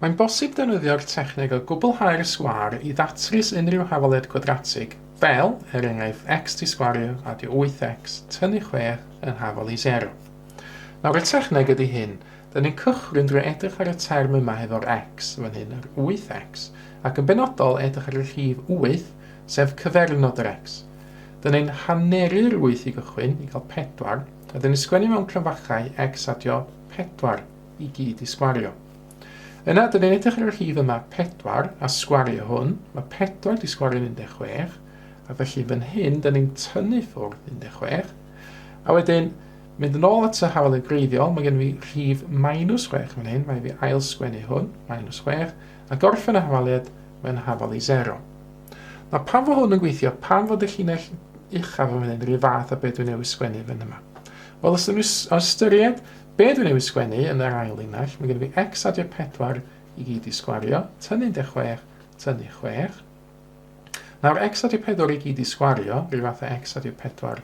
Mae'n bosib defnyddio'r techneg o gwblhau'r sgwâr i ddatrys unrhyw hafaliad cwadratig, fel, er enghraifft, x di sgwario adio 8x tynnu 6 yn hafal i 0. Nawr y techneg ydy hyn, dyn ni'n cychwyn drwy edrych ar y term yma hefo'r x, fan hyn yr 8x, ac yn benodol edrych ar y rhif 8, sef cyfernod yr x. Dyna un haneri'r wyth i gychwyn, i gael pedwar, a dyn ni'n sgwennu mewn cryfachau x adio pedwar i gyd i sgwario. Yna, dyn ni'n edrych ar y rhif yma pedwar, a sgwario hwn, mae pedwar di sgwario'n 16, a felly fan hyn, dyn ni'n tynnu ffwrdd 16, a wedyn, mynd yn ôl at y hawlydd greiddiol, mae gen i fi rhif minus 6 fan hyn, mae fi ail sgwennu hwn, minus 6, A gorffen a hafaliad, mae'n hafal i sero. Na pam fo hwn yn gweithio, pam fod y llinell uchaf yn fan hyn rhyw fath a be dwi newydd sgwennu fan yma. Wel, os ydyn nhw ystyried be dwi newydd sgwennu yn yr ail linell, mae gen i fi x adio 4 i gyd i sgwario, tynnu 16, tynnu 6. Nawr, x adio 4 i gyd i sgwario, rhyw fath a x adio 4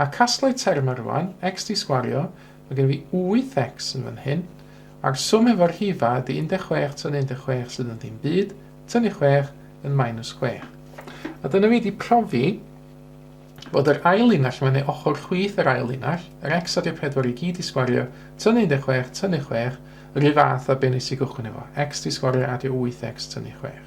A casgla terma rwan, x di sgwario, ma gen fi 8x yn fan hyn, a'r swm efo'r rhifa ydi 16 tynnu 16 sydd yn ddim byd, tynnu 6 yn minus 6. A dyna fi di profi bod yr ail linell yma, neu ochr chwith yr ail linell, yr x a di'r 4 i gyd di sgwario, tynnu 16, tynnu 6, yr un fath a be nes i gychwyn efo, x di sgwario adio 8x tynnu 6.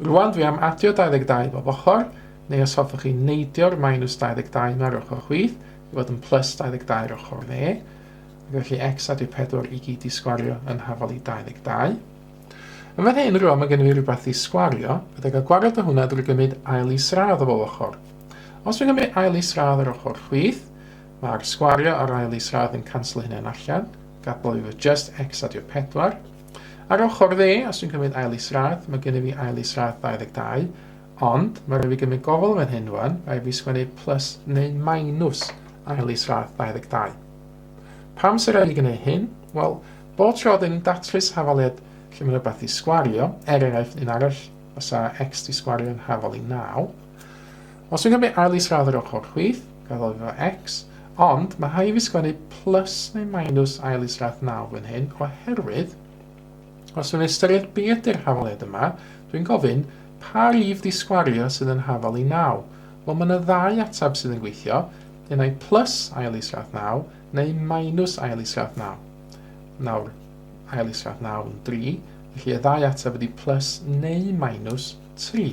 Rwan dwi am adio 22 bob ochr, neu os hoffwch chi neidio'r minus 22 ma'r ochr chwith i fod yn plus 22 yr ochr dde, ac felly x adio 4 i gyd i sgwario yn hafal i 22. Yn fan hyn rwan mae gennym ni rhywbeth i sgwario, fydda gael gwared o hwnna drwy gymryd ail isradd o bob ochr. Os dwi'n gymryd ail isradd yr ochr chwith, mae'r sgwario a'r ail isradd yn canslo hynna'n allan, gadael i fod just x adio 4, Ar ochr dde, os dwi'n cymryd ail isradd, mae gennyf fi ail isradd 22, ond mae rhaid fi gymryd gofal yn fan hyn rwan, rhaid fi sgwennu plus neu minus ail isradd 22. Pam sy'n rhaid i gwneud hyn? Wel, bob tro dyn ni'n datrys hafaliad lle mae rhywbeth i sgwario, er enghraifft un arall, os a x di sgwario yn hafal i 9, Os fi'n cymru ail isradd yr ochr chwith, gaddo fi fo X, ond mae rhai fi sgwennu plus neu minus ail isradd nawr fan hyn oherwydd os fi'n ystyried be ydy'r hafaliad yma, dwi'n gofyn pa rif di sgwario sydd yn hafal i naw? Wel mae na ddau atab sydd yn gweithio, un ai plus ail isradd naw neu minus ail isradd naw. Nawr, ail isradd naw yn dri, felly y ddau atab ydi plus neu minus tri.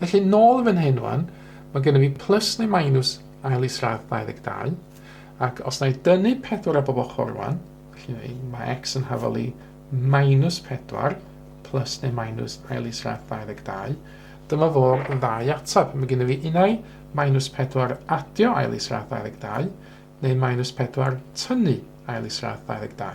Felly, nôl yn fan hyn rwan, mae gennym ni plus neu minus ail isradd 22, ac os na i dynnu 4 ar bob ochr rwan, felly mae x yn hafal i minus 4 plus neu minus ail isradd 22, dyma fo'r ddau atab. Mae gennym ni unai minus 4 adio ail isradd 22, neu minus 4 tynnu ail isradd 22.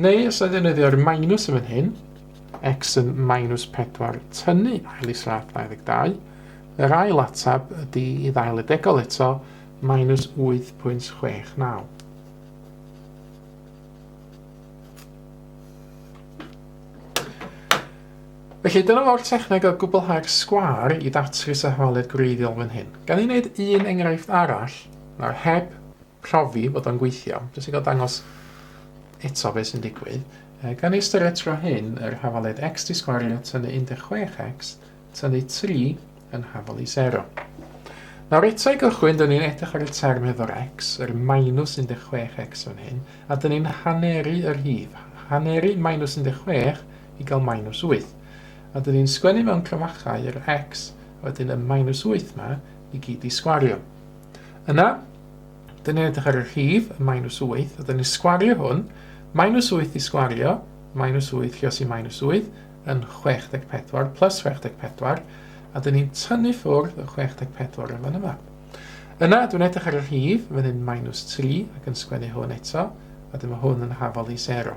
Neu os oedd ddenyddio'r minus yn fan hyn, x yn minus 4 tynnu ail i slaf 22, yr ail atab ydy i ddail y degol eto, minus 8.69. Felly dyna fo'r techneg o gwblhau'r sgwar i ddatrys arholiad gwreiddiol fan hyn. Gan i wneud un enghraifft arall, nawr heb profi bod o'n gweithio, jyst i gael dangos eto beth sy'n digwydd. E, gan ei ystyried tro hyn yr hafaledd x di sgwario tynnu 16x tynnu 3 yn hafal i 0. Nawr eto i gychwyn, dyn ni'n edrych ar y term hefo'r x, yr minus 16x fan hyn, a dyn ni'n haneru yr hif. Haneru minus 16 i gael minus 8. A dyn ni'n sgwennu mewn clymachau yr x, a wedyn y minus 8 ma, i gyd i sgwario. Yna, Dyn ni'n edrych ar y rhif, y minus 8, a dyn ni'n sgwario hwn. Minus 8 i sgwario, minus 8 lle os i minus 8, yn 64 plus 64, a dyn ni'n tynnu ffwrdd y 64 yn fan yma. Yna, dwi'n edrych ar y rhif, fan hyn minus 3, ac yn sgwennu hwn eto, a dyma hwn yn hafol i 0.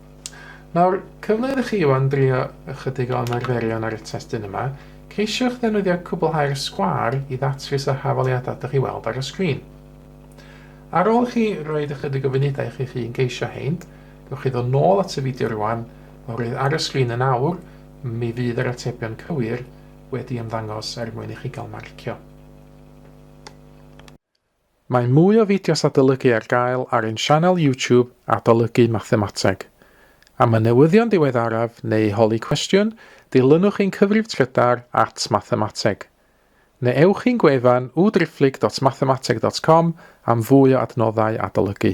Nawr, cyfle iddo chi wan drio ychydig o ymarferion ar y testun yma. Ceisiwch ddefnyddio cwblhau'r sgwâr i ddatrys y hafaliadau dych chi'n weld ar y sgrin. Ar ôl i chi roed ychydig o funudau i chi'ch hun geisio hein, gewch chi ddod nôl at y fideo rwan, oherwydd ar y sgrin yn awr, mi fydd yr atebion cywir wedi ymddangos er mwyn i chi gael marcio. Mae mwy o fideos adolygu ar gael ar ein sianel YouTube Adolygu Mathemateg. Am y newyddion diweddaraf neu holi cwestiwn, dilynwch ein cyfrif trydar at Mathemateg. Neu ewch i'n gwefan www.driphlyg.mathemateg.com am fwy o adnoddau adolygu.